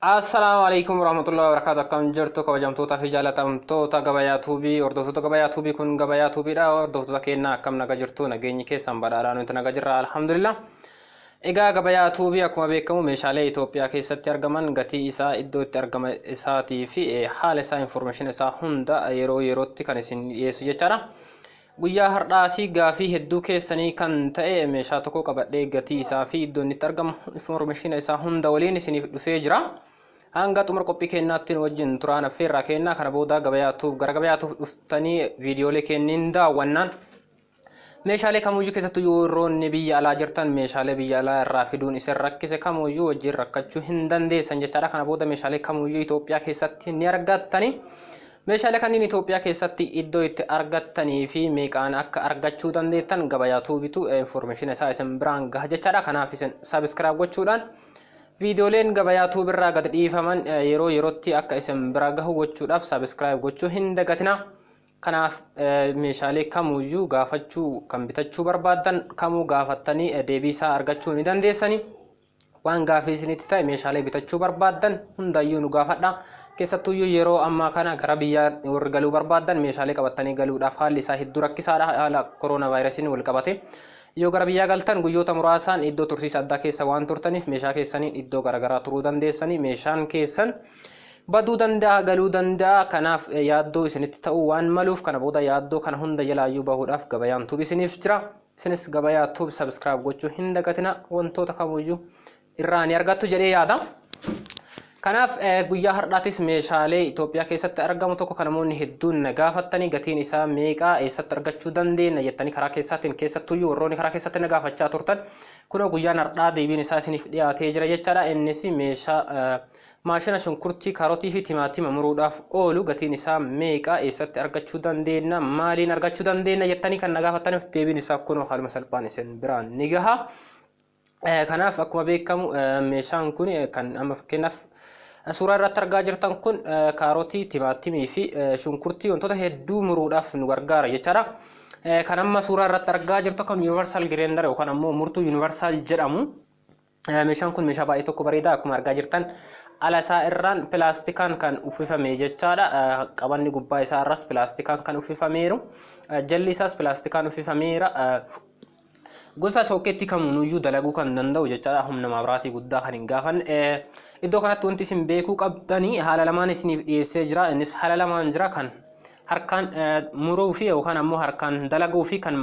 Assalaamu alaikum warahmatullahi wabarakatuh akkam jirtu kabajamtoota fi jaalatamtoota gabayaa tuubii hordoftoota gabayaa tuubii kun gabayaa tuubiidha hordoftoota keenya akkam naga jirtu nageenyi keessan badhaadhaa nuti naga jirra alhamdulillah egaa gabayaa tuubii akkuma beekamu meeshaalee Itoophiyaa keessatti argaman gatii isaa iddoo itti argama isaatii fi eh, haala isaa informeeshin isaa hunda yeroo yerootti kan isin dhiyeessu jechaadha. Guyyaa hardhaasii gaafii hedduu keessanii kan ta'e meeshaa tokko qabadhee gatii isaa fi iddoo inni itti argamu informeeshina isaa hunda waliin isiniif dhufee jira. Hanga xumura qophii keenyaatti nu wajjin turaan affeerraa keenna kana booda gabayaatuuf gara gabayaatuuf dhuftanii viidiyoolee keenniin daawwannaan. Meeshaalee kamuyyuu keessattuu yerroonni biyya alaa jirtan meeshaalee biyya alaa irraa fiduun isin rakkise kamuyyuu wajjin rakkachuu hin dandeessan jechaadha. Kana booda meeshaalee kamuyyuu Itoophiyaa keessatti ni argattani. Meeshaalee kanniin Itoophiyaa keessatti iddoo itti argattanii fi meeqaan akka argachuu dandeettan gabayaa tuubitu information isaa isin biraan gaha jechaadha. Kanaaf isin subscribe gochuudhaan viidiyooleen gabayaa tuubirraa gad dhiifaman yeroo yerootti akka isin bira gahu gochuudhaaf subscribe gochuu hin dagatina. Kanaaf meeshaalee kamuyyuu gaafachuu kan bitachuu barbaaddan kamuu gaafattanii deebii isaa argachuu ni dandeessanii. Waan gaafii isinitti ta'e meeshaalee bitachuu barbaaddan hundaayyuu nu gaafadha. Keessattuuyyuu yeroo ammaa kana gara biyyaa warri galuu barbaaddan meeshaalee qabattanii galuudhaaf haalli isaa hedduu rakkisaadha haala koroonaa vaayirasiin wal qabate. Yoo gara biyyaa galtan guyyoota muraasaan iddoo tursiisa addaa keessa waan turtaniif meeshaa keessaniin iddoo garaagaraa turuu dandeessanii meeshaan keessan baduu danda'a galuu danda'a kanaaf yaaddoo isinitti ta'uu waan maluuf kana booda yaaddoo kana hunda jalaayyuu bahuudhaaf gabayaan tubi isiniif jira Isinis gabayaa tube subscribe gochuu hin dagatina wantoota kamuyyuu irraa ni argattu jedhee yaada. Kanaaf eh, guyyaa har'aatis meeshaalee Itoophiyaa keessatti argamu tokko kan namoonni hedduun na gaafattanii gatiin isaa meeqaa eessatti argachuu dandeenya jettanii karaa keessaatiin keessattuyyuu warroonni karaa keessatti na gaafachaa turtan kunoo guyyaan har'aa deebiin isaa isiniif dhiyaatee jira jechaadha. Innis meeshaa eh, Maashina shunkurtii, kaarotii fi timaatima muruudhaaf oolu gatiin isaa meeqa? Eessatti argachuu dandeenna? Maaliin argachuu dandeenna? jettanii kan na gaafattaniif deebiin isaa kunoo haaluma salphaan isin biraan ni gaha. Eh, Kanaaf akkuma beekamu eh, meeshaan kun eh, kan amma fakkeenyaaf eh, suuraa irratti argaa jirtan kun eh, kaarotii, timaatimii fi eh, shunkurtii wantoota hedduu muruudhaaf nu gargaara jechaadha. Eh, Kan amma suuraa irratti argaa jirtu kan universal grinder yookaan ammoo murtuu universal jedhamu. Meeshaan kun meeshaa baay'ee tokko bareeda akkuma argaa jirtan ala isaa irraan pilaastikaan kan uffifame jechaadha. Qabanni gubbaa isaa irraas pilaastikaan kan uffifameeru. Jalli isaas pilaastikaan uffifameera. Gosa sookeetti kamiinuyyuu dalaguu kan danda'u jechaadha. Humna maabiraatii guddaa kan hin gaafanne. Iddoo kanatti wanti isin beekuu qabdanii haala lamaan isiniif dhiyeessee jira. Innis haala lamaan jira kan harkaan muruu fi yookaan ammoo harkaan dalaguu fi kan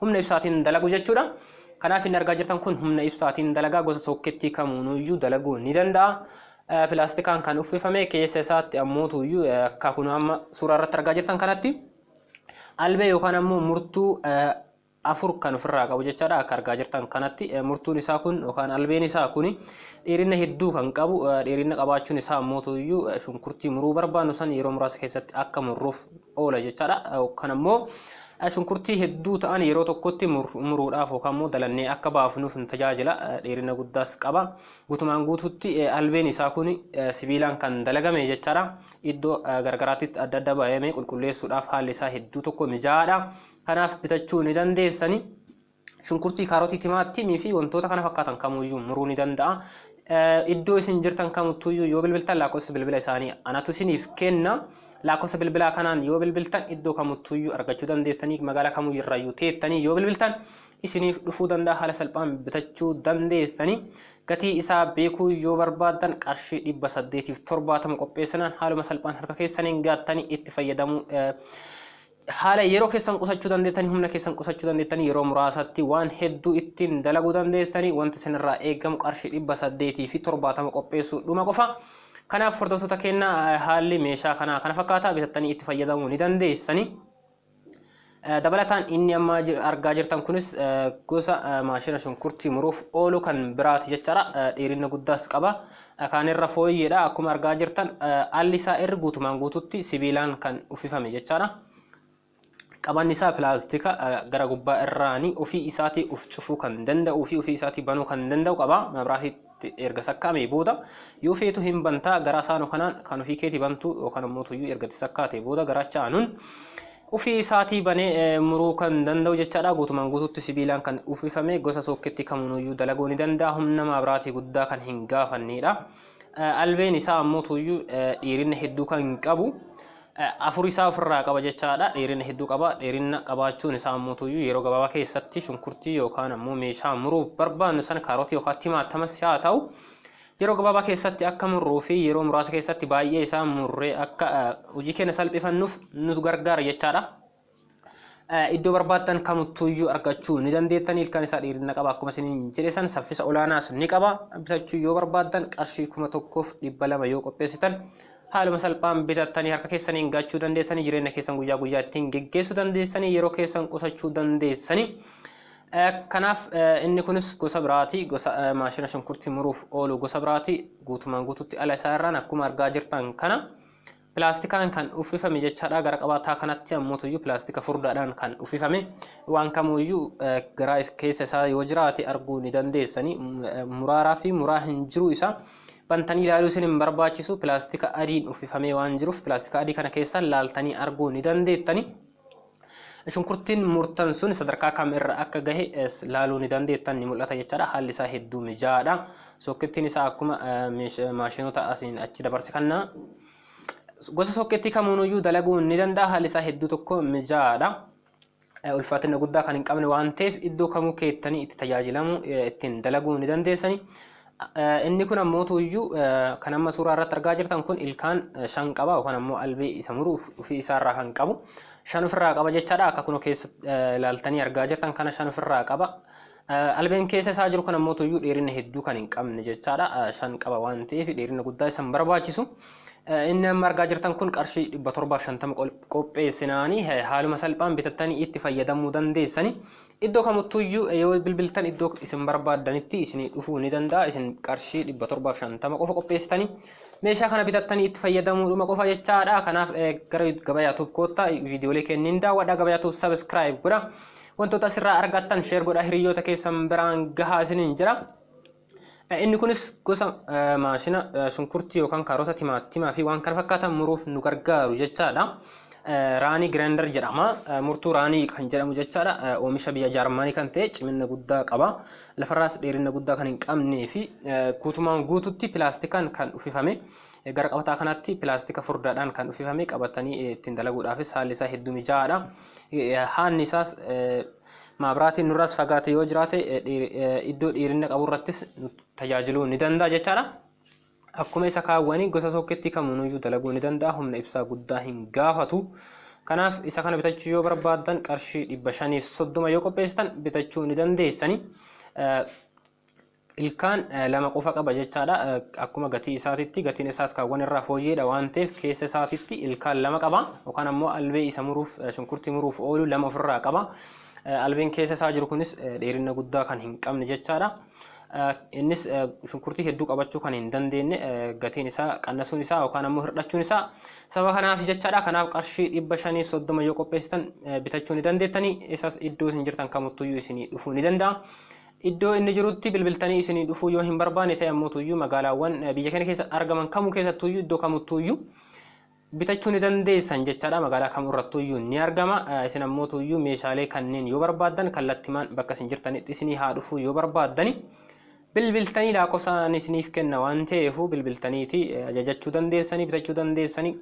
humna ibsaatiin dalagu jechuudha. Kanaaf inni argaa jirtan kun humna ibsaatiin dalagaa gosa sookkeettii kamuunuyyuu dalaguu ni danda'a. Pilaastikaan kan uffifame keessa isaatti ammootuyyuu akka kun amma suuraa irratti argaa jirtan kanatti albee yookaan ammoo murtuu afur kan ofirraa qabu jechaadha akka argaa jirtan kanatti murtuun isaa kun yookaan albeen isaa kun dheerina hedduu kan qabu dheerina qabaachuun isaa ammoo tuyyuu shunkurtii muruu barbaannu san yeroo muraasa keessatti akka murruuf oola jechaadha yookaan ammoo shunkurtii hedduu ta'an yeroo tokkotti muruudhaaf yookaan immoo dalannee akka baafnuuf nu tajaajila dheerina guddaas qaba guutumaan guutuutti albeen isaa kun sibiilaan kan dalagame jechaadha iddoo gargaraatti adda adda baay'ee qulqulleessuudhaaf haalli isaa hedduu tokko mijaa'aadha Kanaaf bitachuu ni dandeessani. Shunkurtii, kaarotii, timaatimii fi wantoota kana fakkaatan kamuyyuu muruu ni danda'a. Iddoo isin jirtan kamuttuyyuu yoo bilbiltan lakkoofsa bilbila isaanii anatu isiniif kenna. Lakkoofsa bilbilaa kanaan yoo bilbiltan iddoo kamuttuyyuu argachuu dandeessanii magaalaa kamuyyuu irraayyuu teettanii yoo bilbiltan isiniif dhufuu danda'a haala salphaan bitachuu dandeessanii. Gatii isaa beekuu yoo barbaaddan qarshii dhibba saddeetiif torbaatama qopheessinaan haaluma salphaan harka keessaniin gaattanii itti fayyadamuu Haala yeroo keessan qusachuu dandeettanii, humna keessan qusachuu dandeettanii, yeroo muraasatti waan hedduu ittiin dalaguu dandeettanii, wanti isinirraa eegamu qarshii dhibba saddeetii fi torbaatama qopheessuu dhuma qofa. Kanaaf hordoftoota keenya haalli meeshaa kanaa kana fakkaata bitattanii itti fayyadamuu ni dandeessanii. Dabalataan inni amma argaa jirtan kunis gosa maashina shunkurtii muruuf oolu kan biraati jechaadha. Dheerina guddaas qaba. Dhakaan irra fooyyeedha akkuma argaa jirtan alli isaa irri guutumaan guututti sibiilaan kan uffifame jechaadha. Qabanni isaa pilaastika gara gubbaa irraani ofii isaatii of cufuu kan danda'uu fi ofii isaatii banuu kan danda'u qaba. Mabraatiitti erga sakkaamee booda yoo feetu hin bantaa garaa saanu kanaan kan ofii keeti bantu yookaan immoo tuyyuu erga itti sakkaatee booda garaacha aanuun Ufii isaatii banee muruu kan danda'u jechaadha. Guutumaan guutuutti sibiilaan kan uffifame gosa sookkeettii kamuunuyyuu dalaguu ni danda'a. Humna maabiraatii guddaa kan hin gaafanneedha. Albeen isaa ammoo tuuyyuu dheerina hedduu kan hin qabu. Afur isaa ofirraa qaba jechaadha. Dheerina hedduu qaba. Dheerina qabaachuun isaa ammoo tuuyyuu yeroo gabaabaa keessatti shunkurtii yookaan ammoo meeshaa muruuf barbaannu sana kaarotii yookaan timaatamas haa ta'u Yeroo gabaabaa keessatti akka murruu fi yeroo muraasa keessatti baay'ee isaa murree akka hojii keenya salphifannuuf nu gargaara jechaadha. Iddoo barbaaddan kamuttuyyuu argachuu ni dandeettan ilkaan isaa dheerina qaba akkuma isiniin jedhe san saffisa olaanaas ni qaba bitachuu yoo barbaaddan qarshii kuma tokkoof dhibba lama yoo qopheessitan haaluma salphaan bitattanii harka keessaniin gachuu dandeessanii jireenya keessan guyyaa guyyaa ittiin geggeessuu dandeessanii yeroo keessan qusachuu dandeessanii Kanaaf inni kunis gosa biraati. Gosa maashina shunkurtii muruuf oolu gosa biraati. Guutumaan guututti ala isaa irraan akkuma argaa jirtan kana pilaastikaan kan uffifame jechaadha. Gara qabaataa kanatti ammuutuyyuu pilaastika furdaadhaan kan uffifame waan kamuuyyuu garaa keessa isaa yoo jiraate arguu ni dandeessani. Muraaraa fi muraa hin jiru isaa bantanii ilaaluu isin hin barbaachisu. Pilaastika adiin uffifamee waan jiruuf pilaastika adii kana keessaan laaltanii arguu ni dandeettani. Shunkurtiin murtan sun sadarkaa kam irra akka gahe laaluu ni dandeettan ni mul'ata jechaadha. Haalli isaa hedduu mijaa'aadha. Sookkeettiin isaa akkuma maashinoota asiin achi dabarse kanna. Gosa sookkeettii kamuunuyyuu dalaguu ni danda'a. Haalli isaa hedduu tokko mijaa'aadha. Ulfaatina guddaa kan hin qabne waan ta'eef iddoo kamuu keettanii itti tajaajilamu ittiin dalaguu ni dandeessani. Inni kun ammoo tuuyyuu kan amma suuraa irratti argaa jirtan kun ilkaan shan qaba yookaan ammoo albee isa muruuf ofii isaarraa kan qabu shan ofirraa qaba jechaadha akka kunoo keessa ilaaltanii argaa jirtan kana shan ofirraa qaba. Albeen keessa isaa jiru kun ammoo tuuyyuu dheerina hedduu kan hin qabne jechaadha shan qaba waan ta'eef dheerina guddaa isa hin barbaachisu. Inni amma argaa jirtan kun qarshii dhibba torbaaf shantama qopheessinaanii haaluma salphaan bitattanii itti fayyadamuu dandeessanii Iddoo kamuttuyyuu yoo bilbiltan iddoo isin barbaaddanitti isinii dhufuu ni danda'a. Isin qarshii 750 qofa qopheessitanii meeshaa kana bitattanii itti fayyadamuudhuma qofa jechaadha. Kanaaf eh, gara gabaa yaatuuf koottaa viidiyoolee kenniin daawwadha. Gabaa yaatuuf sabiskiraayib godha. Wantoota asirraa argattan sheer godha hiriyoota keessan biraan gahaa isiniin jira. Eh, Inni kunis gosa eh, maashina eh, shunkurtii yookaan kaarota timaatimaa fi waan kana fakkaatan muruuf nu gargaaru jechaadha. Eh, Raanii giraandar jedhama. Eh, Murtuu raanii kan jedhamu jechaadha. Eh, Oomisha biyya Jaarmaanii kan ta'e cimina guddaa qaba. Lafarraas dheerina guddaa kan hin qabnee fi eh, guutumaan guututti pilaastikaan kan uffifame. Eh, Gara qabataa kanaatti pilaastika furdaadhaan kan uffifame qabatanii eh, ittiin dalaguudhaafis haalli isaa hedduu mijaa'aadha. Eh, Haanni isaas eh, Maabraatiin nurraas fagaate yoo jiraate iddoo dheerina qabu irrattis tajaajiluu ni danda'a jechaadha. Akkuma isa kaawwanii gosa sookkeettii kamiinuyyuu dalaguu ni danda'a. Humna ibsaa guddaa hin gaafatu. Kanaaf isa kana bitachuu yoo barbaaddan qarshii dhibba shaniif soddoma yoo qopheessitan bitachuu ni dandeessani. ilkaan lama qofa qaba jechaadha akkuma gatii isaatitti gatiin isaas kaawwan irraa fooyyeedha waan ta'eef keessa isaatitti ilkaan lama qaba yookaan ammoo albee isa muruuf shunkurtii muruuf oolu lama ofirraa qaba albeen keessa isaa jiru kunis dheerina guddaa kan hin qabne jechaadha innis shunkurtii hedduu qabachuu kan hin dandeenye gatiin isaa qannasuun isaa yookaan ammoo hir'achuun isaa sababa kanaaf jechaadha kanaaf qarshii dhibba shanii soddoma yoo qopheessitan bitachuu ni dandeettanii isas iddoo isin jirtan kamuttuyyuu isinii dhufuu ni danda'a Iddoo inni jirutti bilbiltanii isinii dhufuu yoo hin barbaanne ta'e ammoo tuyyuu magaalaawwan biyya keenya keessa argaman kamuu keessattuuyyuu iddoo kamuttuuyyuu bitachuu ni dandeessan jechaadha. Magaalaa kamuu irrattuuyyuu ni argama. Isin ammoo tuyyuu meeshaalee kanneen yoo barbaaddan kallattimaan bakka isin jirtanitti isinii haa dhufuu yoo barbaaddani bilbiltanii laakkofsa ani isiniif kenna waan ta'eefuu bilbiltaniiti ajajachuu dandeessanii bitachuu dandeessanii.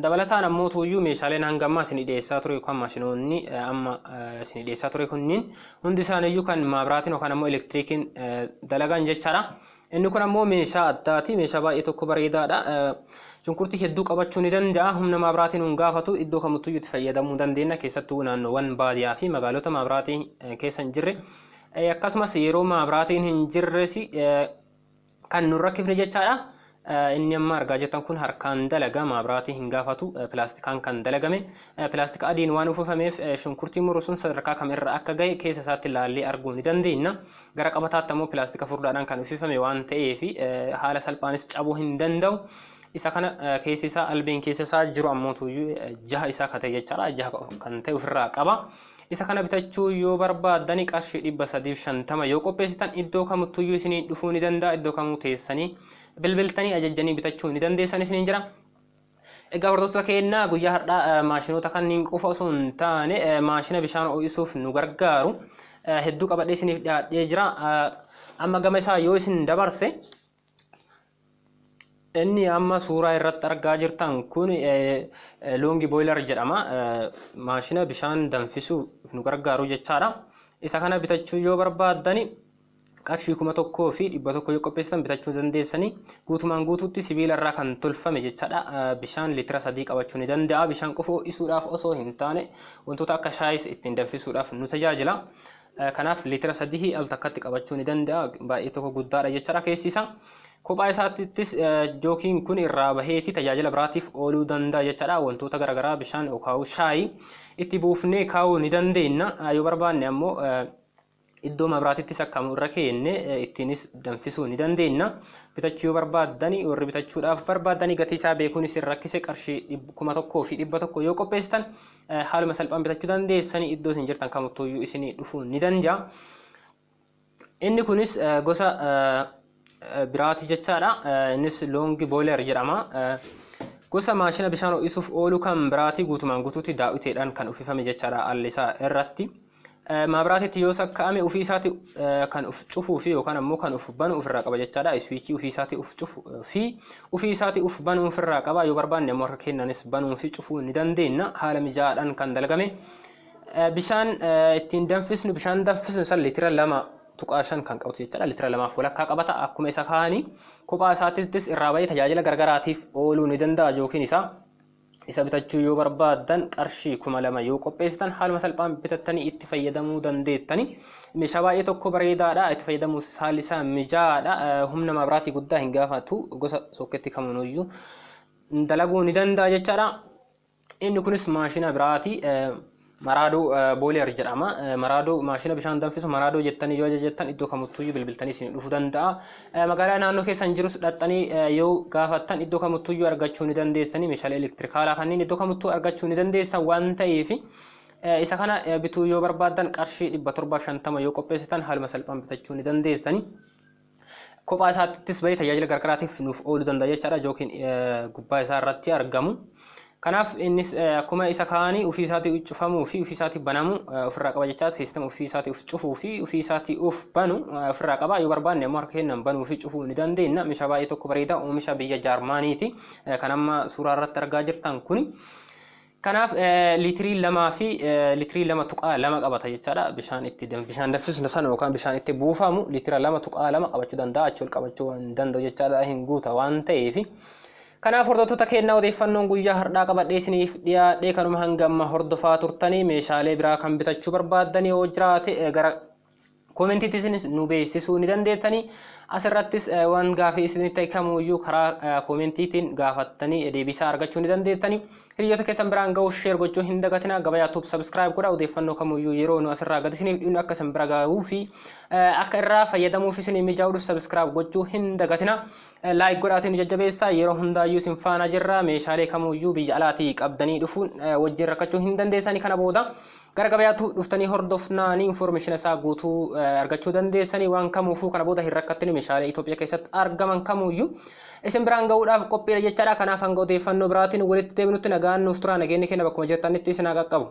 Dabalataan ammoo tuuyyuu meeshaaleen hanga ammaa isin dhiyeessaa ture yookaan maashinoonni amma isin dhiyeessaa ture kunniin hundi isaaniiyyuu kan maabraatiin yookaan ammoo elektiriikiin dalagan jechaadha. Inni kun ammoo meeshaa addaati. Meeshaa baay'ee tokko bareedaadha. Shunkurtii hedduu qabachuu ni danda'a. Humna maabraatiin hin gaafatu. Iddoo kamittuyyuu itti fayyadamuu dandeenya. Keessattuu naannoowwan baadiyaa fi magaalota maabraatiin keessa hin jirre. Akkasumas yeroo maabraatiin hin jirres kan nun rakkifne jechaadha. Inni amma argaa jirtan kun harkaan dalaga maabiraatii hin gaafatu pilaastikaan kan dalagame pilaastika adiin waan uwwifameef shunkurtii muru sun sadarkaa kam irra akka gahe keessa isaatti laallee arguu ni dandeenya. Gara qabataatti ammoo pilaastika furdaadhaan kan uwwifame waan ta'eef haala salphaanis cabuu hin danda'u. Isa kana keessi isaa albeen keessa isaa jiru ammoo tuyyuu jaha isaa kate jechaadha. Jaha kan ta'e ofirraa qaba. Isa kana bitachuu yoo barbaaddani qarshii 350 yoo qopheessitan iddoo kamuttuyyuu isiniin dhufuu ni danda'a iddoo kamuu teessanii bilbiltanii ajajjanii bitachuu ni dandeessan isiniin jira. Egaa hordoftoota keenya guyyaa har'aa maashinoota kanneen qofa osoo hin taane maashina bishaan ho'isuuf nu gargaaru hedduu qabadhee isiniif dhiyaadhee jira. Amma gama isaa yoo isin dabarse Inni amma suuraa irratti argaa jirtan kun loongi booyilar jedhama. Maashina bishaan danfisuuf nu gargaaru jechaadha. Isa kana bitachuu yoo barbaaddani qarshii kuma tokkoo fi dhibba tokko yoo qopheessitan bitachuu dandeessanii guutumaan guutuutti sibiila irraa kan tolfame jechaadha. Bishaan litira sadii qabachuu ni danda'a. Bishaan qofa ho'isuudhaaf osoo hin taane wantoota akka shaayis ittiin danfisuudhaaf nu tajaajila. Kanaaf liitira sadii al takkatti qabachuu ni danda'a. Baay'ee tokko guddaadha jechaadha keessi isaa. Kophaa isaattis jookiin kun irraa baheeti tajaajila biraatiif ooluu danda'a jechaadha. Wantoota garaagaraa bishaan yookaan shaayi itti buufnee kaa'uu ni dandeenya. Yoo barbaanne ammoo iddoo mabraatittis akkamu irra keenne ittiinis danfisuu ni dandeenya. Bitachuu yoo barbaaddani warri bitachuudhaaf barbaaddani gatii isaa beekuunis hin rakkise qarshii kuma tokkoo fi dhibba tokko yoo qopheessitan eh, haaluma salphaan bitachuu dandeessanii iddoo isin jirtan kamuttuyyuu isinii dhufuu ni danda'a. Inni kunis eh, gosa eh, eh, biraati jechaadha. Eh, Innis loongi booleer jedhama. Eh, Gosa maashina bishaan ho'isuuf oolu kan biraati guutumaan guutuutti daawwiteedhaan kan uffifame jechaadha allisaa irratti. Maabiraatitti yoo sakka'ame ofii isaati kan of cufuu fi yookaan ammoo kan of banu ofirraa qaba jechaadha. Iswiichii ofii isaati of cufu fi ofii isaati of banu ofirraa qaba. Yoo barbaanne ammoo harka keenyaanis banuu fi cufuu ni dandeenya. Haala mijaa'aadhaan kan dalagame. Bishaan ittiin danfisnu bishaan danfisnu san litira lama tuqaa shan kan qabatu jechaadha. Litira lamaaf walakkaa qabata. Akkuma isa kaa'anii kophaa isaattis irraa bahee tajaajila garagaraatiif ooluu ni danda'a jookiin isaa. Isa bitachuu yoo barbaaddan qarshii kuma lama yoo qopheessitan haaluma salphaan bitattanii itti fayyadamuu dandeettani. Meeshaa baay'ee tokko bareedaadha. Itti fayyadamuuf haalli isaa mijaa'aadha. Humna maabiraatii guddaa hin gaafatu. Gosa sookketti kaminuyyuu dalaguu ni danda'a jechaadha. Inni kunis maashina biraati. Maraadoo Booleer jedhama. Maraadoo maashina bishaan danfisu maraadoo jettanii yoo ajajattan iddoo kamuttuyyuu bilbiltanii isin dhufu danda'a. Magaalaa naannoo keessan jirus dhaxxanii yoo gaafattan iddoo kamuttuyyuu argachuu ni dandeessanii meeshaalee elektirikaalaa kanneen iddoo kamuttuu argachuu ni dandeessan waan ta'eef isa kana bituu yoo barbaaddan qarshii 750 yoo qopheessitan haaluma salphaan bitachuu ni dandeessanii. Kophaa isaattis bahee tajaajila gargaraatiif nuuf ooluu danda'a jechaadha jookiin gubbaa isaa irratti argamu. Kanaaf innis akkuma isa kaanii ofii isaatii cufamuu fi ofii isaatii banamuu ofirraa qaba jechaa siistama ofii isaatii of cufuu fi ofii isaatii of banu ofirraa qaba yoo barbaanne ammoo harka keenyaan banuu fi cufuu ni dandeenya meeshaa baay'ee tokko bareeda oomisha biyya jaarmaaniiti kan amma suuraa irratti argaa jirtan kuni. Kanaaf liitirii lamaa fi liitirii lama tuqaa lama qabata jechaadha. Bishaan itti bishaan danfisnu sana yookaan bishaan itti buufamu liitira lama tuqaa lama qabachuu danda'a. Achi ol qabachuu hin danda'u jechaadha hin guuta waan ta'eef. Kanaaf hordoftoota keenyaa odeeffannoon guyyaa har'aa qabadhee isiniif dhiyaadhee kanuma hanga amma hordofaa turtanii meeshaalee biraa kan bitachuu barbaaddanii yoo jiraate gara Koomentiitti isinis nu beeksisuu ni dandeettanii. Asirrattis waan gaafii isinitti ta'e kamuyyuu karaa koomentiitiin gaafattanii deebisaa argachuu ni dandeettanii. Hiriyoota keessan biraan ga'uuf sheer gochuu hin dagatinaa. Gabayaa tuub sabiskiraayib godha odeeffannoo kamuyyuu yeroo nu asirraa gad isiniif dhiynu akka isin bira ga'uu fi akka irraa fayyadamuuf isinii mijaa'uudhuf sabiskiraayib gochuu hin dagatinaa. Laayik godhaatiin nu jajjabeessaa yeroo hundaayyuu isin faana jirra meeshaalee kamuyyuu biyya alaatii qabdanii dhufuun wajjin rakkachuu hin dandeettanii kana booda Gara gabayaatu dhuftanii hordofnaanii information isaa guutuu argachuu dandeessanii waan kamuufuu kana booda hin rakkattanii meeshaalee Itoophiyaa keessatti argaman kamuuyyuu isin biraan ga'uudhaaf qophiidha jechaadha kanaaf hanga odeeffannoo biraatiin walitti deebinutti nagaan nuuf turaa nageenyi keenya bakkuma jirtanitti isin haa qaqqabu.